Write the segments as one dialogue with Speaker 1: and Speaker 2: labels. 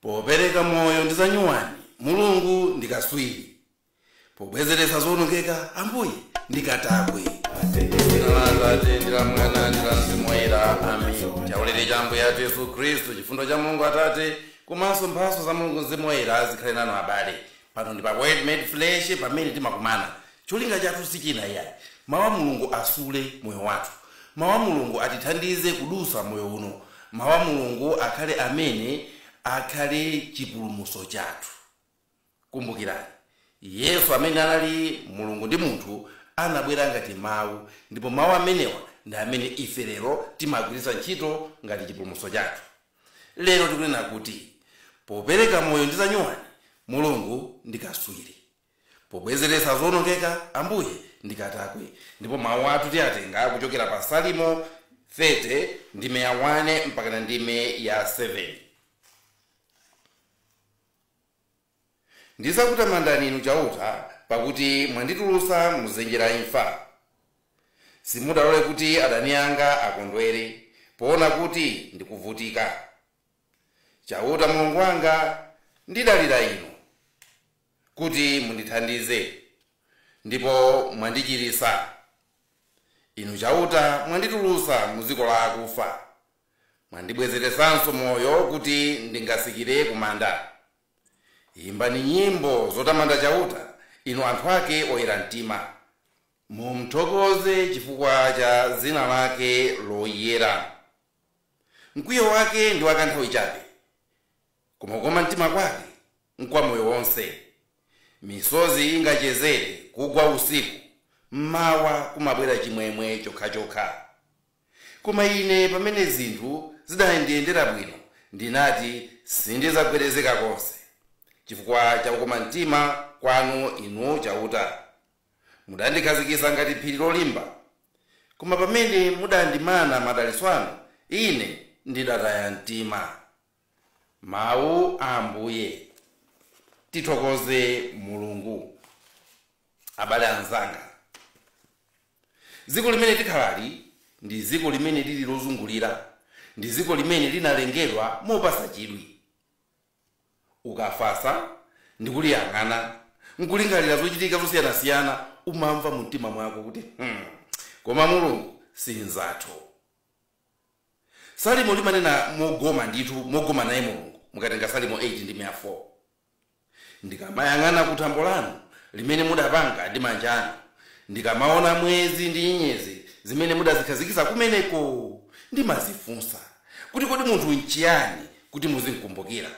Speaker 1: Popereka moyo ndi zanyuwani, Mulungu ndi katswiri. Pobwezeretsa zoonongeka, Ambuye ndi katakwe. Dzina la Atate ndi la Mwana ndi la Mzimu Woyera. Amen. Chaulere cha Ambuye athu Yesu Khristu, chifundo cha Mulungu Atate, komanso mphatso za Mulungu Mzimu Woyera zikhale nanu abale. Pano ndi pa Word Made Flesh pamene timakumana. Cholinga chathu sichina iyayi. Mau a Mulungu asule moyo wathu. Mau a Mulungu atithandize kudutsa m'moyo uno. Mau a Mulungu akhale amene akhale chipulumutso chathu. Kumbukirani, Yesu amene anali Mulungu ndi munthu anabwera ngati Mau ndipo Mau amenewa ndi amene ife lero timagwiritsa ntchito ngati chipulumutso chathu. Lero tikunena kuti popereka moyo ndi zanyuwani Mulungu ndi kaswiri. Pobwezeretsa zoonongeka Ambuye ndi katakwe ndipo mawu athu tiatenga kuchokera pa Salimo 30 ndime ya 1 mpakana ndime ya 7. Ndidzakutamandani Inu Chauta, pakuti mwanditulutsa mu dzenje la imfa. Simudalole kuti adani anga akondwere, poona kuti ndikuvutika. Chauta Mulungu wanga, ndidalira Inu kuti mundithandize, ndipo mwandichiritsa. Inu Chauta mwanditulutsa mu dziko la akufa. Mwandibwezeretsanso moyo kuti ndingatsikire kumanda. Imbani nyimbo zotamanda Chauta, inu anthu ake oyera mtima. Mumthokoze chifukwa cha dzina lake loyera. Mkwiyo wake ndi wakanthawi chabe, koma kukoma mtima kwake nkwa moyo wonse. Misozi ingachezere kugwa usiku, m'mawa kumabwera chimwemwe chokhachokha. Koma ine, pamene zinthu zidandiyendera bwino, ndinati, Sindidzagwedezeka konse, chifukwa cha kukoma mtima kwanu, Inu Chauta. Mudandikhazikitsa ngati phiri lolimba. Koma pamene mudandimana madalitso anu, ine ndidataya mtima. Mawu a Ambuye. Tithokoze Mulungu. Abale anzanga, dziko limene tikhalali ndi dziko limene lili lozungulira, ndi dziko limene linalengedwa mopatsa chidwi. Ukafatsa ndi kuliyang'ana, n'kulingalira zochitika zosiyanasiyana, umamva mumtima mwako kuti, Hmm, koma Mulungu si mnzathu. Salimo linanena mogoma ndithu, mogoma naye Mulungu, mukatenga Salimo 8 ndime ya 4. Ndikamayang'ana ku thambo lanu, limene mudapanga ndi manja anu, ndikamaona mwezi ndi nyenyezi zimene mudazikhazikitsa kumeneko, ndimazifunsa, kuti kodi munthu nchiyani kuti muzimkumbukira,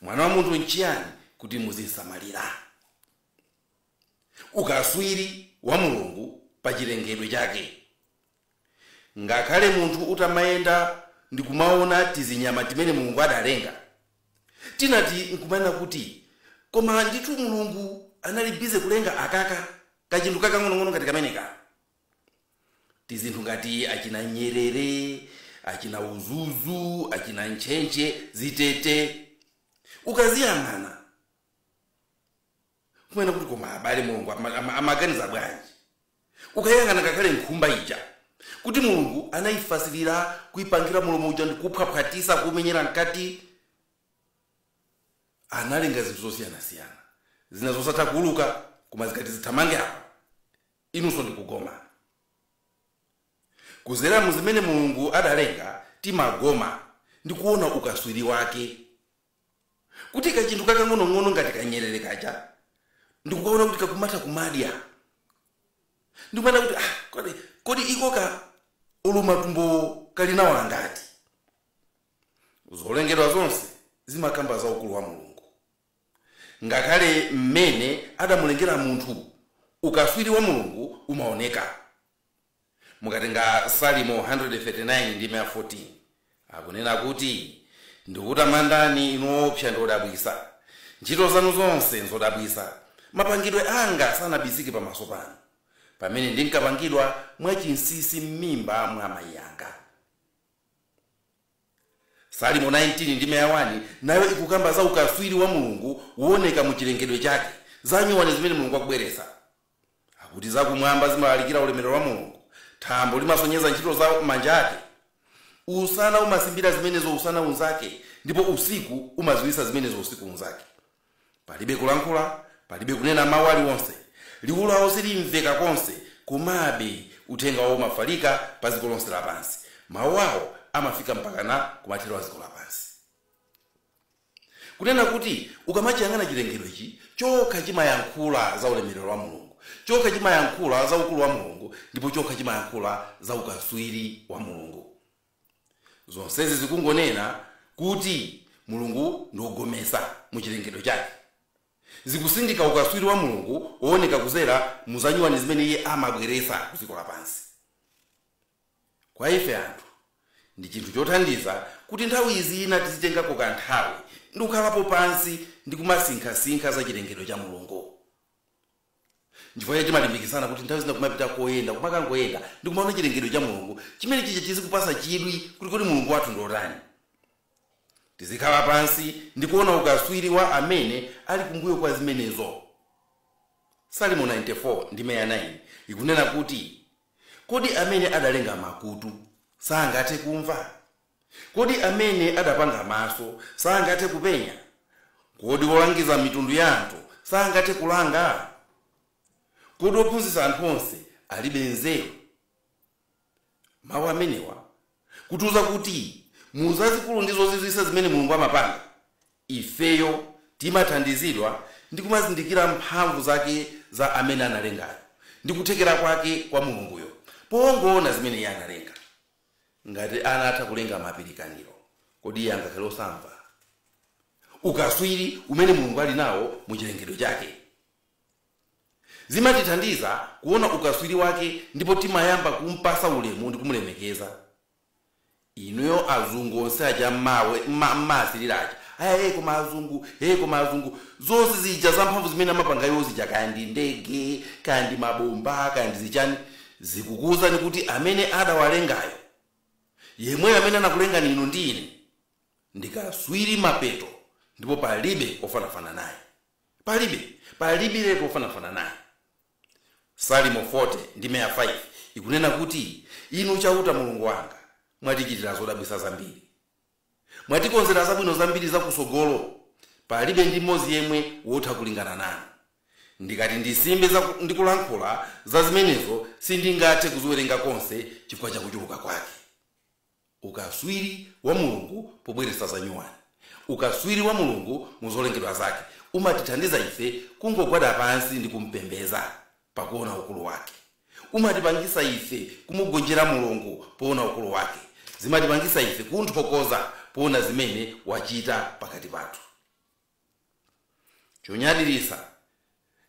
Speaker 1: mwana wa munthu nchiyani kuti muzimsamalira? Ukatswiri wa Mulungu pa chilengedwe chake Ngakhale munthu utamayenda ndikumaona tizinyama timene Mulungu adalenga, timati nkumanena kuti koma ndithu Mulungu anali busy kulenga akaka, kachinthu kakang'onong'ono ngati kameneka? Tizinthu ngati achina nyerere, achina udzudzu, achina ntchentche, zitete, ukaziyang'ana. kumanena kuti koma abale mulungu ama- ama- amaganiza bwanji ukayang'ana ngakhale nkhumba ija kuti mulungu anayifatsirira kuyipangira mulomo uja ndikuphwaphwatitsa kumenyera mkati analenga zinthu zosiyanasiyana zina zosatha kuuluka koma zikati zithamange apa inunso ndikugoma kudzera mu zimene mulungu adalenga timagoma ndikuona ukatswiri wake kuti kachinthu kakang'onong'ono ngati kanyerere kaja ndikukaona kuti kakumatha kumadya ndikumaona kuti ah, kodi, kodi iko ka olo matumbo kali nawo angati zolengedwa zonse zimakamba za ukulu wa mulungu ngakhale mmene adamulengera munthu ukatswiri wa mulungu umaoneka Mukatenga Salimo 139 ndime ya 14, akunena kuti, Ndikukutamandani, inu oopsa ndi odabwitsa. Ntchito zanu zonse nzodabwitsa. Mapangidwe anga sanabisike pamaso panu, pamene ndinkapangidwa mwachinsinsi m'mimba mwa amayi anga. Salimo 19 ndime ya 1 nayo ikukamba za ukatswiri wa Mulungu wooneka mu chilengedwe chake, za nyuwani zimene Mulungu akubweretsa. Akuti zakumwamba zimalalikira ulemerero wa Mulungu, thambo limasonyeza ntchito za manja ake. Usana umasimbira zimenezo usana unzake, ndipo usiku umadziwitsa zimenezo usiku unzake. Palibe kulankhula, palibe kunena mawu aliwonse. Liwu lawo silimveka konse, komabe uthenga wawo umafalika pa dziko lonse lapansi. Mawu awo amafika mpakana kumathero a dziko lapansi. Kunena kuti, ukamachiyang'ana chilengedwe ichi, chokha chimayankhula za ulemerero wa Mulungu, chokha chimayankhula za ukulu wa Mulungu, ndipo chokha chimayankhula za ukatswiri wa Mulungu. Zonsezi zikungonena kuti Mulungu ndi wogometsa mu chilengedwe Chake. Zikusindika ukatswiri wa Mulungu wooneka kudzera mu zanyuwani zimene Iye amabweretsa ku dziko lapansi. Kwa ife anthu, ndi chinthu chothandiza kuti nthawi zina tizitengako kanthawi ndi kukhalapo pansi ndi kumasinkhasinkha za chilengedwe cha Mulungu. Nchifukwa chake timalimbikitsana kuti nthawi zina kumapita koyenda, kumakangoyenda ndi kumaona chilengedwe cha Mulungu, chimene chija chizikupatsa chidwi kuti kodi Mulungu wathu ndi wotani. Tizikhala pansi ndi kuona ukatswiri wa Amene ali kumbuyo kwa zimenezo. Salimo 94 ndime ya 9 ikunena kuti, Kodi amene adalenga makutu sangathe kumva? Kodi amene adapanga maso sangathe kupenya? Kodi wolangiza mitundu ya anthu sangathe kulanga? Kodi wophunzitsa anthu onse alibe nzeru? Mawu amenewa kutiuza kuti mu zazikulu ndi zozizwitsa zimene Mulungu amapanga, ifeyo timathandizidwa ndi kumazindikira mphamvu zake za amene analengayo ndi kuthekera kwake kwa Mulunguyo pongoona zimene iye analenga. Ngati anatha kulenga mapirikaniro, kodi iye angakhale osamva ukatswiri umene Mulungu ali nawo mu chilengedwe chake? Zimatithandiza kuona ukatswiri wake ndipo timayamba kum'patsa ulemu ndi kumulemekeza. Inuyo azungu onse aja mumawasirira aja, ayayi hey koma azungu, hey koma azungu, zonse zija zamphamvu zimene amapanga iwo zija kaya ndi ndege, kaya ndi mabomba, kaya ndi zichani, zikukuuzani kuti amene adawalengayo, yemweyo amene anakulengani inu ndi ine, ndi katswiri mapeto ndipo palibe ofanafana naye. Palibe, palibiretu wofanafana naye. Salimo 40 ndime ya 5 ikunena kuti, Inu Chauta Mulungu wanga, mwatichitira zodabwitsa zambiri. Mwatikonzera zabwino zambiri zakutsogolo, palibe ndi mmodzi yemwe wotha kulingana nanu. Ndikati ndisimbe ndi kulankhula za zimenezo, sindingathe kuziwerenga konse chifukwa cha kuchuluka kwake. Ukaswiri wa Mulungu pobweretsa zanyuwani. Ukaswiri wa Mulungu mu zolengedwa zake umatithandiza ife kungogwada pansi ndi kumpembedza pakuona ukulu wake. Umatipangisa ife kumugonjera Mulungu poona ukulu wake. Zimatipangisa ife kumthokoza poona zimene wachita pakati pathu. chonyadiritsa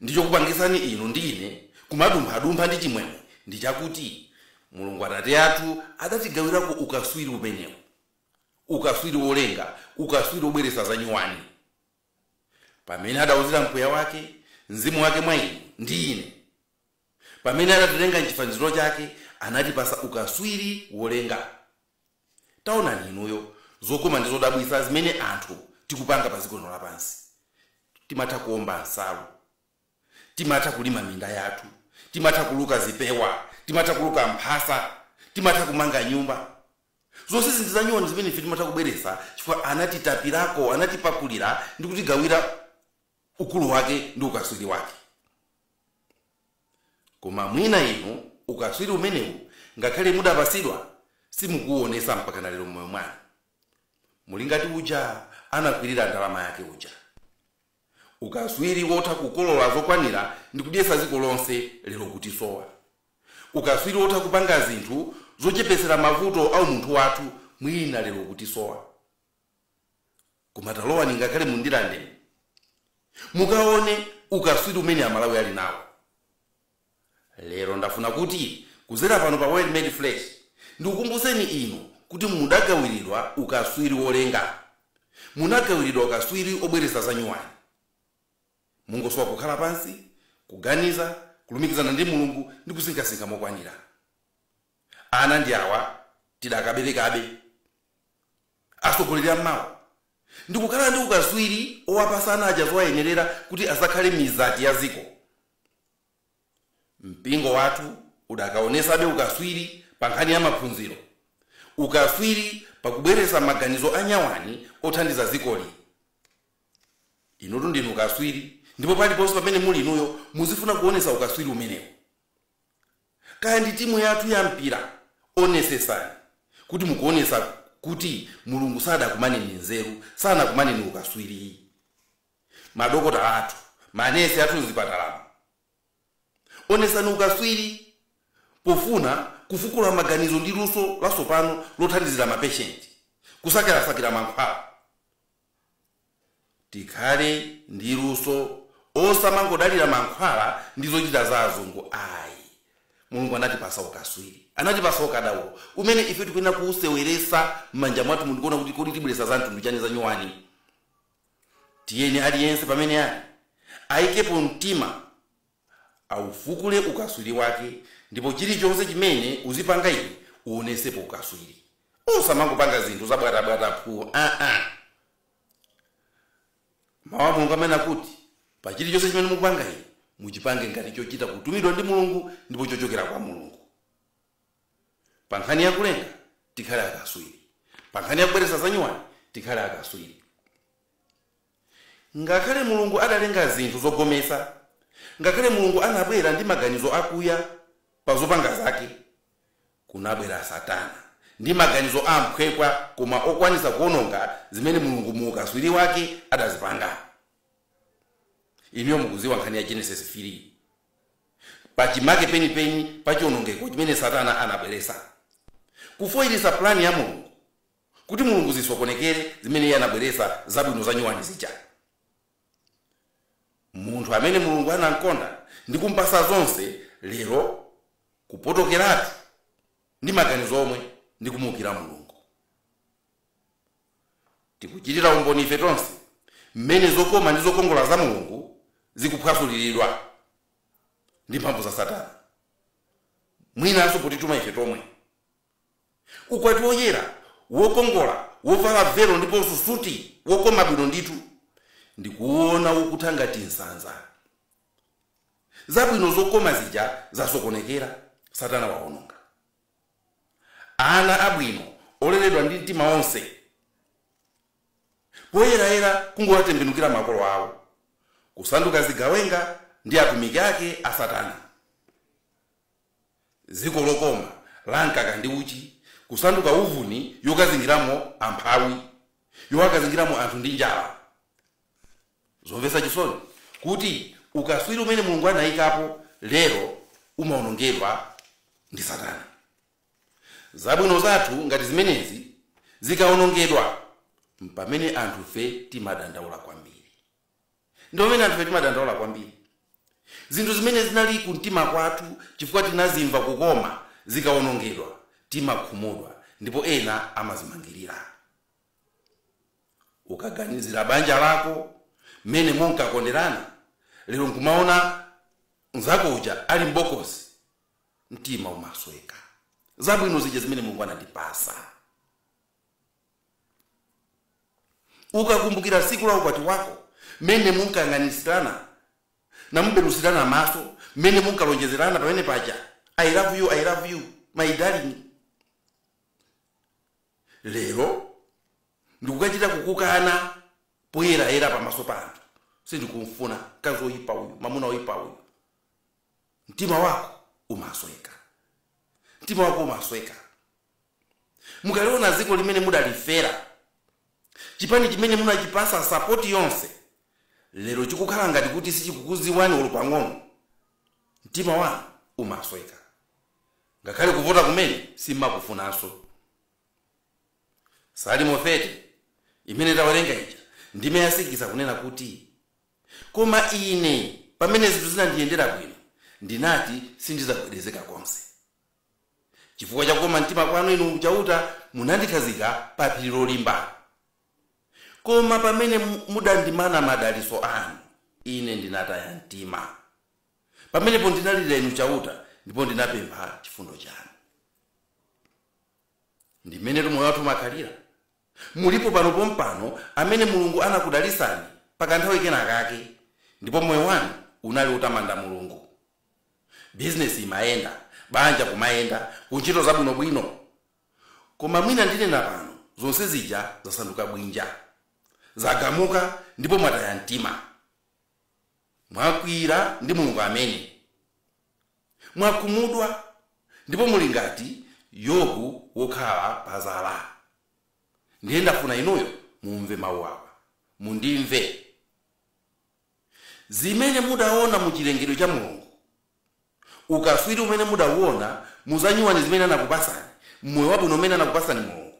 Speaker 1: ndi chokupangitsani inu ndi ine kumadumphadumpha ndi chimwemwe ndi chakuti mulungu atate athu adatigawirako ukaswiri umenewu ukaswiri wolenga ukaswiri wobweretsa zanyuwani pamene adauzira mpweya wake mzimu wake mwa inu ndi ine pamene adatilenga mchifaniziro chake anatipasa ukaswiri wolenga taonani inuyo zokoma ndi zodabwitsa zimene anthu tikupanga pa dziko lino lapansi timatha kuomba nsalu timatha kulima minda yathu timatha kuluka zipewa timatha kuluka mphasa timatha kumanga nyumba zonse ndi zanyuwani zimene ife timatha kubweretsa chifukwa anatitapirako anatipakulira ndi kutigawira ukulu wake ndi ukatswiri wake koma mwina inu ukatswiri umenewu ngakhale mudapatsidwa simukuwuonesa mpakana lero mmoyo mwanu muli ngati uja anakwirira ndalama yake uja ukatswiri wotha kukolola zokwanira ndi kudyetsa dziko lonse lero kutisowa ukatswiri wotha kupanga zinthu zochepetsera mavuto a umunthu wathu mwina lero kutisowa koma talowani ngakhale mu Ndirande mukaone ukaswiri umene amalawi ali nawo lero ndafuna kuti kuzera pano pa Word Made Flesh ndikukumbutseni inu kuti mudagawiridwa ukaswiri wolenga munagawiridwa ukaswiri wobweretsa zanyuwani mungosowa kukhala pansi kuganiza kulumikizana ndi mulungu ndi kusinkhasinkha mokwanira Ana ndi awa, tidakaberekabe. Atsogoleri a mawa ndi kukhala ndi ukaswiri owapasa ana aja zowayenerera kuti azakhale mizati ya ziko. Mpingo wathu udakaonesabe ukaswiri pa nkhani ya maphunziro, ukaswiri pa kubweresa maganizo anyuwani othandiza dzikoli. Inutu ndinu kaswiri ndipo paliponse pamene muli inuyo muzifuna kuonesa ukaswiri umenewu. kaya ndi timu yathu ya mpira onetsetsani kuti mukuonetsa kuti Mulungu sadakumaneni nzeru sanakumaneni ukaswiri ayi madokotala athu manesi athu mzipatalamo onetsani ukaswiri pofuna kufukula maganizo ndi luso lasopano lothandizira mapeshenti kusakirasakira mankhwala Tikhale ndi luso osamangodalira mankhwala ndi zochita za azungu ayi. Mulungu anatipasa ukaswiri, anatipasa ukadaulo umene ife tikuyenera kuuseweresa mmanja mwathumu ndikuona kuti kodi tibweresa za mtundu chani zanyuwani. Tiyeni aliyense pamene ali aikepo mtima. aufukule ukaswili wake ndipo chilichonse chimene uzipanga iwe uwonesepo ukaswili osamangopanga zinthu zabwatabwata phu aa mawu a mulungu amanena kuti pa chilichonse chimene mukupanga inu muchipange ngati chochita kutumidwa ndi mulungu ndipo chochokera kwa mulungu pa nkhani ya kulenga tikhale akaswili pa nkhani ya kubweretsa zanyuwani tikhale akaswili Ngakhale Mulungu adalenga zinthu zogometsa, ngakhale Mulungu anabwera ndi maganizo akuya pa zopanga zake, kunabwera Satana ndi maganizo ophweka koma okwanitsa kuononga zimene Mulungu mu ukaswiri wake adazipanga. Inuyo mukudziwa nkhani ya Genesis 3, pa chimake penipeni pa chionongeko chimene Satana anabweretsa, kufoilitsa plan ya Mulungu. kuti Mulungu zimusokonekere zimene iye anabweretsa zabwino za nyuwani zija. Munthu amene Mulungu anamkonda ndi kumpatsa zonse lero kupotokeratu ndi maganizo omwe ndi kumuukira Mulungu. Tikuchitira umboni ife tonse mmene zokoma ndi zokongola za Mulungu zikuphwasuliridwa ndi mphamvu za Satana, mwinanso potituma ife tomwe. Ukwati woyera, wokongola, wovala velo ndiponso suti, wokoma bwino ndithu. n'kuuona ukutha ngati nsanza. Zabwino zokoma zija zasokonekera. Satana wawononga ana abwino oleredwa ndi mtima wonse. Poyerayera kungowatembenukira makolo awo, kusanduka zigawenga ndi atumiki ake a Satana. dziko lokoma la mkaka ndi uchi kusanduka uvuni yokazingiramo amphawi yowakazingiramo anthu ndi njala zomvetsa chisoni kuti ukaswiri umene mulungu anayikapo lero umawonongedwa ndi satana zabwino zathu ngati zimenezi zikawonongedwa mpamene anthufe timadandaula kwambiri ndi pamene anthufe timadandaula kwambiri. Zinthu zimene zinali kumtima kwathu chifukwa tinazimva kukoma zikawonongedwa, timakhumudwa ndipo ena amadzimangirira. Ukaganizira banja lako, mmene munkakonderana, lero n'kumaona mnzako uja ali m'bokosi, mtima umasweka. Zabwino zija zimene Mulungu anandipatsa. Ukakumbukila tsiku la ukwati wako, mmene munkayang'anitsitsana na kuphethilana maso, mmene munkalonjezelana pamene paja, I love you, I love you, my darling. Lelo ndikukacita kukukana poyela-yela pamaso pa anthu. Sindikum'funa mkazi woipa uyu, mwamuna woipa uyu. Mtima wako umasweka. Mtima wako umasweka. Mukaliona dziko limene mudalifera, chipani chimene munachipasa sapoti yonse, lero chikukhala ngati kuti sichikukudziwani olo pang'ono, mtima wanu umasweka. Ngakhale kuvota kumene simmakufunanso. Salimo 30 imene tawerenga ija, ndime ya 6 akunena kuti, Koma ine, pamene zinthu zinandiyendera bwino, ndinati sindidzagwedezeka konse. Chifukwa cha kukoma mtima kwanu, Inu Chauta, munandikhazika pa phiri lolimba. Koma pamene mudandimana madalitso anu, ine ndinataya mtima. Pamenepo ndinalirira Inu Chauta, ndipo ndinapempha chifundo chanu. Ndi m'menetu moyo wathu umakhalira. Mulipo pano pompano amene Mulungu anakudalitsani pa kanthawi kena kake, ndipo moyo wanu unali wotamanda Mulungu. bizinesi imayenda, banja kumayenda, kuntchito zabwinobwino. Koma mwina ndinena pano, zonse zija zasanduka bwinja. Zagamuka ndipo mwataya mtima. Mwakwiyira ndi Mulungu amene. Mwakhumudwa ndipo muli ngati Yobu wokhala padzala. Ndiye ndafuna inuyo mumve mawu awa. Mundimve. zimene mudaona mu chilengedwe cha Mulungu, ukatswiri umene mudauona mu za nyuwani zimene anakupasani, m'moyo wabwino umene anakupasani Mulungu,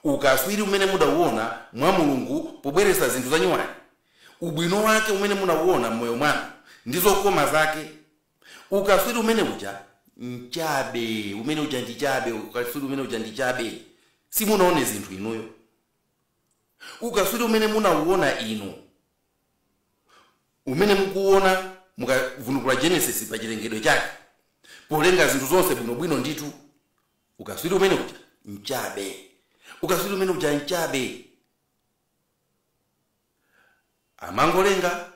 Speaker 1: ukatswiri umene mudauona mwa Mulungu pobweretsa zinthu za nyuwani, ubwino wake umene munauona m'moyo mwanu ndi zokoma zake, ukatswiri umene uja nchabe, umene uja ndi chabe, ukatswiri umene uja ndi chabe, simunaone zinthu inuyo. Ukatswiri umene munawuwona inu, umene mukuwuwona mukavundukula Genesis pa chilengedwe chake, polenga zinthu zonse bwino bwino ndithu, ukatswiri umene uja nchabe. Ukatswiri umene uja nchabe. Amangolenga,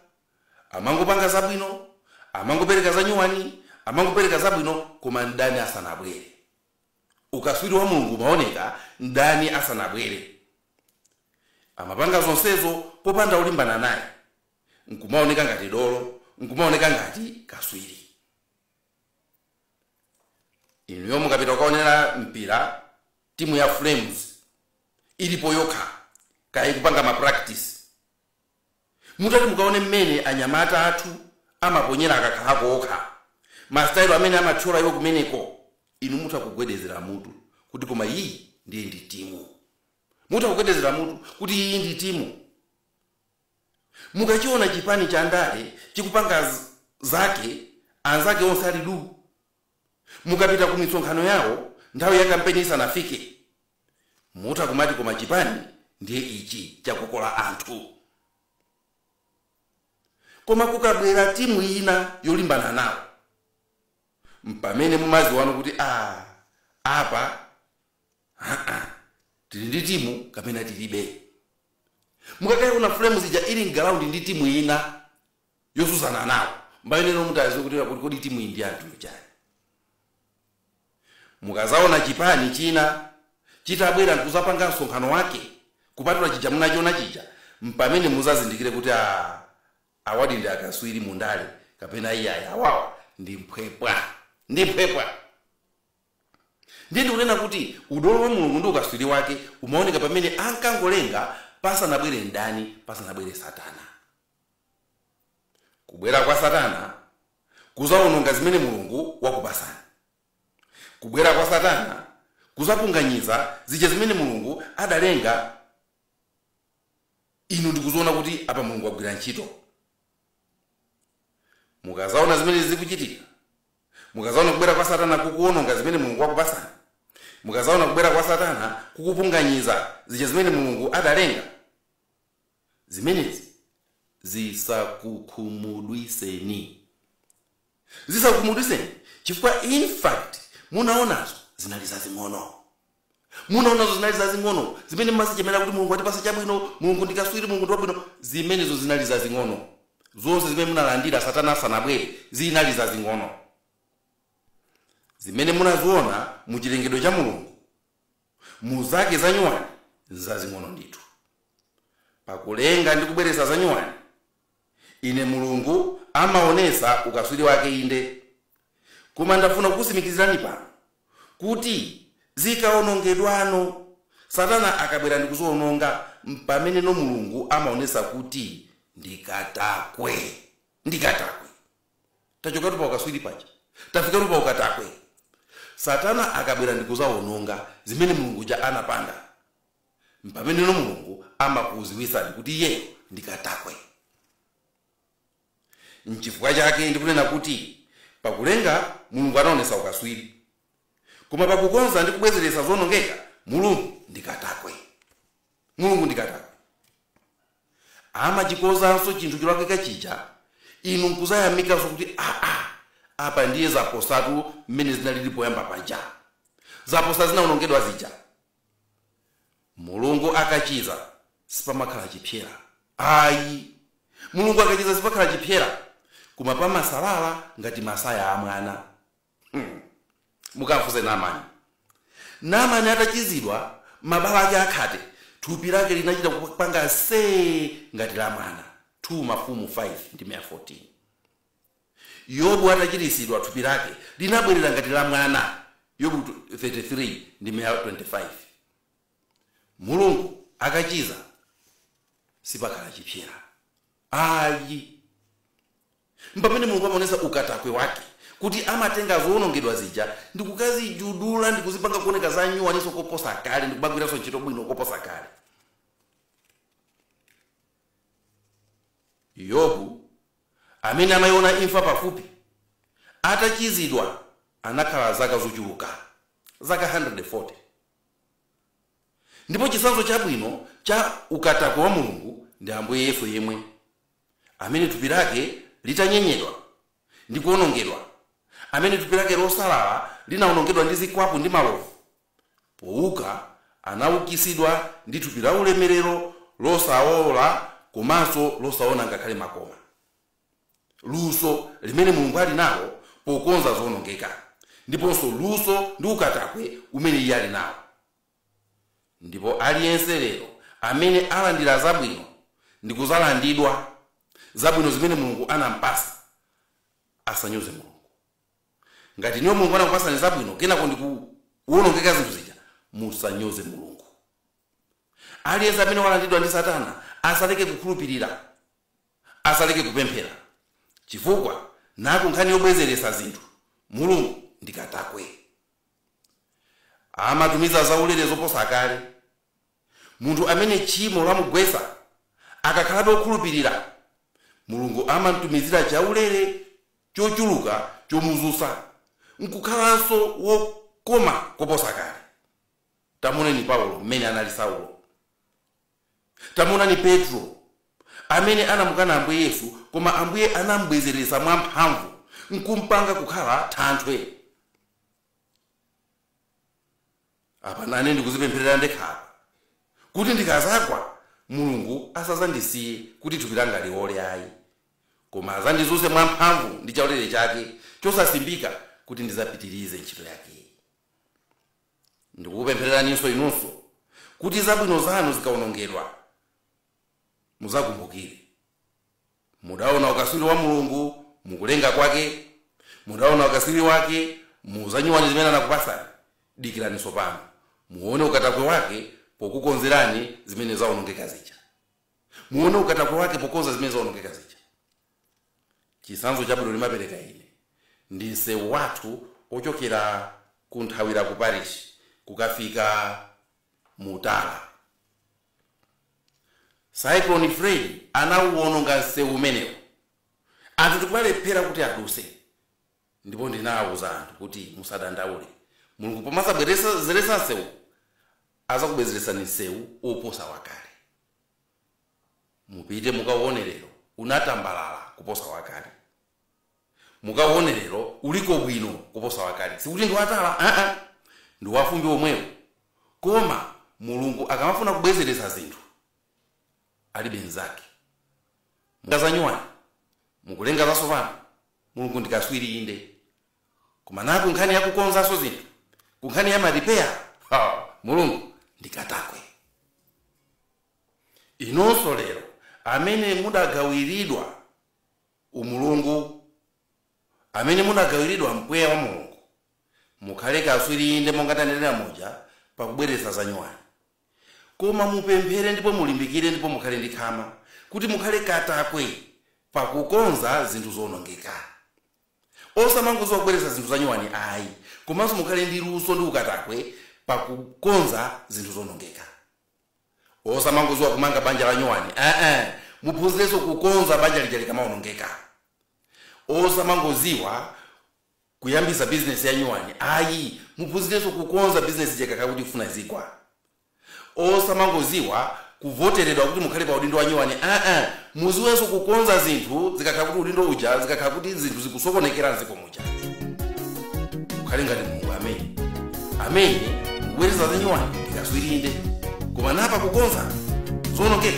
Speaker 1: amangopanga zabwino, amangopereka zanyuwani, amangopereka zabwino, koma mdani asanabwere. Ukatswiri wa Mulungu umaoneka mdani asanabwere. Amapanga zonsezo popanda olimbana naye, nkumaoneka ngati dolo, nkumaoneka ngati katswiri. Inuyo mukapita kukaonera mpira, timu ya Flames ilipo yokha, kaya ikupanga ma practice, mutati mukaone mmene anyamata athu amaponyera akakhala ako okha, ma style amene amathyola iwo kumeneko, inu mutha kugwedezera mutu kuti koma iyi ndiye ndi timu. Mutha kugwedezera mutu kuti iyi ndi timu. Mukachiona chipani cha ndale chikupanga zake anzake onse ali duu. Mukapita ku misonkhano yawo nthawi ya kampeni isanafike, Mutha kumati koma chipani ndiye ichi chakolola anthu. Koma kukabwera timu ina yolimbana nawo mpamene mumaziwano kuti aa apa haa tili ndi timu kapena tilibe. Mukakayiona Flames ija ili mgalawundi ndi timu ina yosutsana nawo mpameneno mutadziwe kuti kodi timuyi ndi yathu chani. Mukazaona chipani china chitabwera nkuzapanga msonkhano wake kupatula chija munachiona chija mpamene muzazindikire kuti aah awadi ndi akaswiri mu ndale kapena iyayi awawa ndi mphwepwa ndi mphwepwa. Ndiye ndikunena kuti udolo wa Mulungu ndi ukaswiri wake umaoneka pamene ankangolenga pasanabwere mdani pasanabwere satana. Kubwera kwa satana kuzawononga zimene Mulungu wakupasani. Kubwera kwa satana kuzapunganyiza zija zimene Mulungu adalenga inu ndikuziona kuti apa Mulungu wagwira ntchito. Mukazaona zimenezi zikuchitika, mukazaona kubwera kwa satana kukuwononga zimene Mulungu wakupasani, mukazaona kubwera kwa satana kukupunganyiza zija zimene Mulungu adalenga, Zimenezi zisakukhumudwiseni. Zisakukhumudwiseni chifukwa in fact munaonazo zinali zazing'ono. Munaonazo zinali zazing'ono zimene mmazichemera kuti Mulungu watipatsa chabwino, Mulungu ndi kaswiri, Mulungu ndi wabwino. Zimenezo zinali zazing'ono. Zonse zimene munalandira satana asanabwere zinali zazing'ono. Zimene munaziona mu chilengedwe cha Mulungu mu zake za nyuwani nzazing'ono ndithu pakulenga ndi kubweretsa za nyuwani inde mulungu amaonesa ukaswiri wake inde koma ndafuna kukusimikizirani pano kuti zikaonongedwano satana akabwera ndi kuziononga mpameneno mulungu amaonesa kuti ndi katakwe ndi katakwe tachokatu pa ukatswiri paja tafikatu pa ukatakwe satana akabwera ndikuzawononga zimene mulungu uja anapanga mpameneno mulungu amakuziwitsani kuti iyeyo ndi katakwe nchifukwa chake ndikunena kuti pakulenga mulungu anaonesa ukatswiri koma pakukonza ndi kubwezeretsa zonongeka mulungu ndi katakwe Mulungu ndi katakwe. Amachikonzanso chinthu cholakwika chija inu n'kudzayamikanso kuti, Aa, apa ndiye zaposatu mmene zinalili poyamba paja. Zaposa zinawonongedwa zija. Mulungu akachiza sipamakhala chipsera ayi. Mulungu akachiza sipakhala chipsera koma pamasalala ngati masaya a mwana. Hmm. Mukamfunse Namani. Namani atachizidwa mabala ake akhate, thupi lake linachita kupanga see ngati la mwana. 2 Mafumu 5 ndime ya 14. Yobu atachiritsidwa thupi lake linabwerera ngati la mwana. Yobu 33 ndime ya 25. Mulungu akachiza sipakhala chipsera. Ayi. Mpamene Mulungu amaonetsa ukatakwe wake kuti amatenga zowonongedwa zija ndikukazijudzula ndikuzipanga kuoneka za nyuwaninso koposa kale ndikumagwiranso ntchito bwino koposa kale. Yobu, amene anaiona imfa pafupi, atachizidwa anakhala zaka zochuluka, zaka 140. Ndipo chitsanzo chabwino cha ukatakwe wa Mulungu ndi Ambuye Yesu yemwe. amene thupi lake litanyenyedwa ndi kuwonongedwa, amene thupi lake losalala linawonongedwa ndi zikwapu ndi malovu, pouka anaukitsidwa ndi thupi laulemerero losaola komanso losaona ngakhale makoma. Luso limene Mulungu ali nalo pokonza zowonongeka ndiponso luso ndi ukatakwe umene iye ali nawo. Ndipo aliyense lero amene alandira zabwino, ndi kudzalandidwa, zabwino zimene Mulungu anampatsa, asanyoze Mulungu. Ngati inuyo Mulungu anakupatsani zabwino kenako ndi kuwonongeka zinthu zija, musanyoze Mulungu. Aliyense amene walandidwa ndi Satana asaleke kukhulupirira, asaleke kupemphera, chifukwa naku nkhani yobwezeretsa zinthu, Mulungu ndi katakwe. Amatumizira zaulere zoposa kale. Munthu amene tchimo lamugwetsa akakhalabe wokhulupirira, Mulungu amam'tumizira chaulere chochuluka chomudzutsa n'kukhalanso wokoma koposa kale. Tamuoneni Paulo mmene anali Saulo. Tamuonani Petro, amene anamukana Ambuye Yesu, koma Ambuye anam'bwezeretsa mwamphamvu n'kum'panga kukhala thanthwe. Apa nane ndikudzipempherera ndekha apa, kuti ndikadzagwa, Mulungu asadzandisiye kuti thupi langa liwole ayi, koma adzandidzutse mwamphamvu ndi chaulere chake chosasimbika kuti ndidzapitirize ntchito yakeyi. Ndikukupemphereraninso inunso kuti zabwino zanu zikawonongeka, mudzakumbukire. Mudaona ukatswiri wa Mulungu mu kulenga kwake, mudaona ukatswiri wake mu zanyuwani zimene anakupatsani, dikirani tsopano muone ukatakwe wake pokukonzerani zimene zawonongeka zija. Muone ukatakwe wake pokonza zimene zawonongeka zija. Chitsanzo chabwino ndimapereka ine ndi msewu wathu wochokera kunthawira ku Parish kukafika mu tala. Cyclone Freddy anauononga msewu umenewu anthu ndikumalephera kuti aduse ndipo ndinauza anthu kuti musadandaule Mulungu pomazabwerezeretsa msewuwu azakubwezeretserani msewu oposa wakale. mupite mukauone lero unatambalala kuposa wakale mukauone lero uliko bwino kuposa wakale sikuti ndi wa tala aa ndi wafumbi omwewo koma mulungu akamafuna kubwezeretsa zinthu alibe mnzake mu zanyuwani mukulenga zatsopano mulungu ndi kaswiri inde koma na ku nkhani ya kukonzanso zinthu ku nkhani ya maripeya ha mulungu ndi katakwe inunso lero amene mudagawiridwa umulungu amene mudagawiridwa mpweya wa mulungu mukhale kaswiri inde monga tanenera muja pakubweretsa zanyuwani koma mupemphere ndipo mulimbikire ndipo mukhale ndi khama kuti mukhale katakwe pakukonza zinthu zowonongeka Osamangoziwa kubweretsa zinthu zanyuwani ayi komanso mukhale ndi luso ndi ukatakwe pa kukonza zinthu zoonongeka. Osamangoziwa kumanga banja la nyuwani eeh muphunzirenso kukonza banja lija likamaonongeka. Osamangoziwa kuyambisa bizinesi ya nyuwani ayi muphunzirenso kukonza bizinesi ija ikakhala kuti ikufuna izigwa. osamangoziwa kuvoteredwa kuti mukhale pa udindo wa nyuwani aa muziwenso kukonza zinthu zikakhala kuti udindo uja zikakhala kuti zinthu zikusokonekera mziko muja mukhale ngati mulungu amene amene kubweretsa za nyuwani ndi kaswiri inde koma na pakukonza zoonongeka